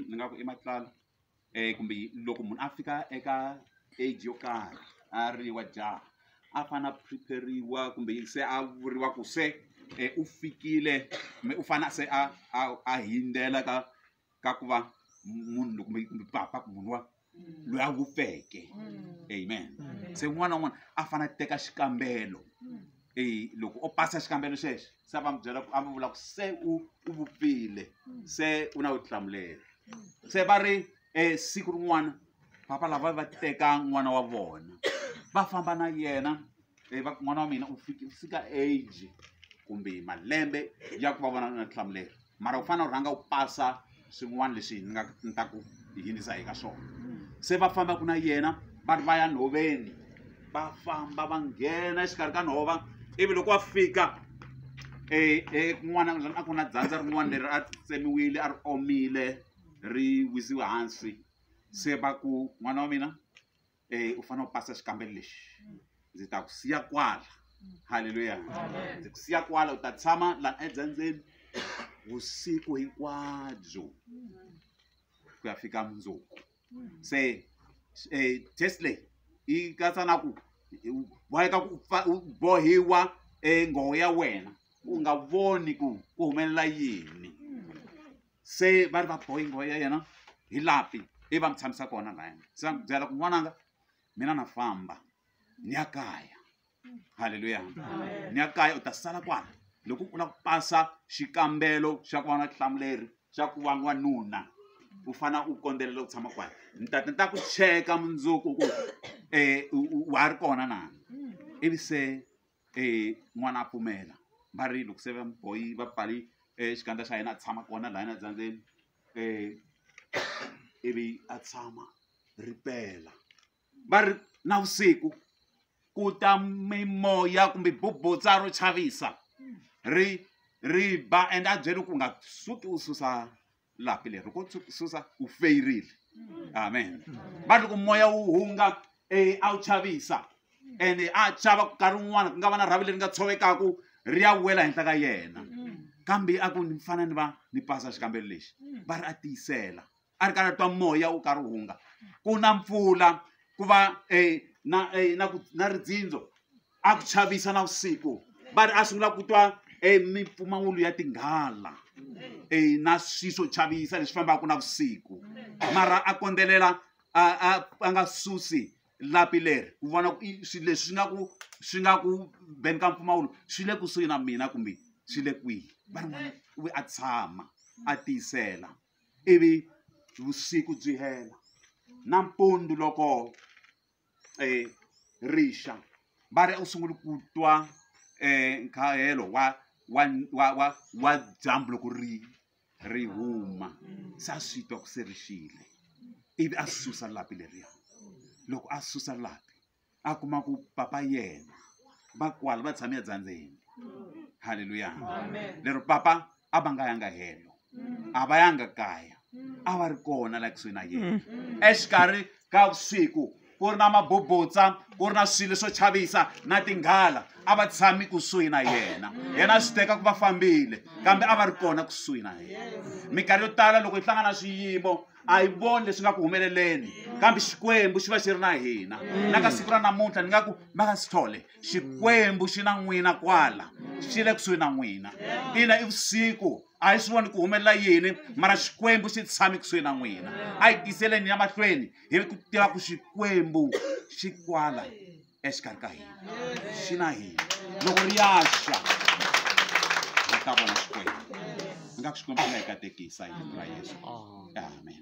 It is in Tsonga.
ni nga ku i matlala um kumbe loko munhu a fika eka age yo karhi a ri wa jaha a fane a prepare-iwa kumbe se a vuriwa ku se um u fikile kumbe u fane se a a a hindzela ka ka ku va munhu kumbe kumbe papa ku munhu wa loyi a vupfeke mm. amen mm. se un'wana na un'wana a fane a teka xikambelo mm. e loko o pasa xikambelo xexo se a va mi byela a mi vula ku se u u vupfile se u na vutihlamuleri se va ri um siku rin'wana papa lava va teka n'wana wa vona va famba na yena e va n'wana wa mina u fika age kumbe malembe ya ku va vona na vutihlamuleri mara u fanele u rhanga u pasa swin'wana leswi ni nga ni ta ku yinisa hi ka swona se va famba ku na yena va ri va ya nhoveni va famba va nghena exikarhi ka nhova ivi loko va fika ekun'wana a ku na dzandza rin'wana leri a tsemiwile a ri omile ri wisiwe hansi se va ku n'wana wa mina e u fanele u pasa xikambelo lexi ndzi ta ku siya kwala halleluya ndzi ku siya kwala u ta tshama la edzendzeni vusiku hinkwabyo ku ya fika mundzuku se um test leyi yi katsa na ku boheka ku bohiwa um nghoho ya wena u nga voni ku ku humelela yini se va ri va boeing wa ya yena hi lapi i va mi tshamisa kona laya se va mi byela ku n'wananga mina na famba ni ya kaya halleluya ni ya kaya u ta sala kwala loko u lava ku pasa xikambelo xa ku va na hlamuleri xa ku va n'wanuna u fana u kondzelela ku tshama kwala ni ta ni ta ku cheka mundzuku ku um wa ha ri kona na ivi se e n'wana a pfumela va ri loko se va mu bohi va pfale xikandza xa yena a tshama kona lahayana dzandzeni ivi a tshama ripela va ri navusiku ku ta mimoya kumbe bubutsa ro chavisa ri ri ba and a byele ku nga suki u susa lapi leri ku susa u feyirile amen va loko moya wu hunga um a wu chavisa and a chava ku nkarhi wun'wana ku nga va na rhavi leri nga tshovekaku ri ya wela henhla ka yena kambe a ku ni fana ni va ni pasa xikambelo lexi va ri a tiyisela a ri karhi a twa moya wu karhi wu hunga ku na mpfula ku va um na um na ku na ridzindzo a ku chavisa na vusiku va ri a sungula ku twa e mimpfumawulo ya tinghala e na swi swo chavisa leswi fambaka na vusiku mara a kondzelela a a a nga susi lapi leri ku vona swilo leswi swi nga ku swi nga ku beni ka mpfumawulo swi le kusuhi na mina kumbe swi le kwihi va ri n'wana u ve a tshama a tiyisela ivi vusiku byi hela nampundzu loko um rixa va ri a wu sunguli ku twa um nkahelo wa wa wa wa wa dyambu loko ri ri huma se a swi twa ku se rixile ivi a susa lapi leriya loko a susa lapi a kuma ku papa yena va kwala va tshame edyandzeni halleluya lero papa a va nga yanga helo a va yanga kaya a va ri kona la kusuhi na yena exikarhi ka vusiku ku ri na mabubutsa ku ri na swilo swo chavisa na tinghala a va tshami kusuhi na yena yena swi teka ku va fambile kambe a va ri kona kusuhi na yena minkarhi yo tala loko hi hlangana swiyimo a yi voni leswi nga ku humeleleni kambe xikwembu xi va xi ri na hina na ka siku ra namuntlha ni nga ku makasithole xikwembu xi na n'wina kwala xi le kusuhi na n'wina ina i vusiku a hi swi voni ku humelela yini mara xikwembu xi tshame kusuhi na n'wina a hi tiyiseleni ya mahlweni hi ri ku tiva ku xikwembu xi kwala exikarhi ka hina xi na hina loko ri yaxa hi ta vona xikwembu ni nga ku xikwembu xi nga hi katekisa hi ra yesu amen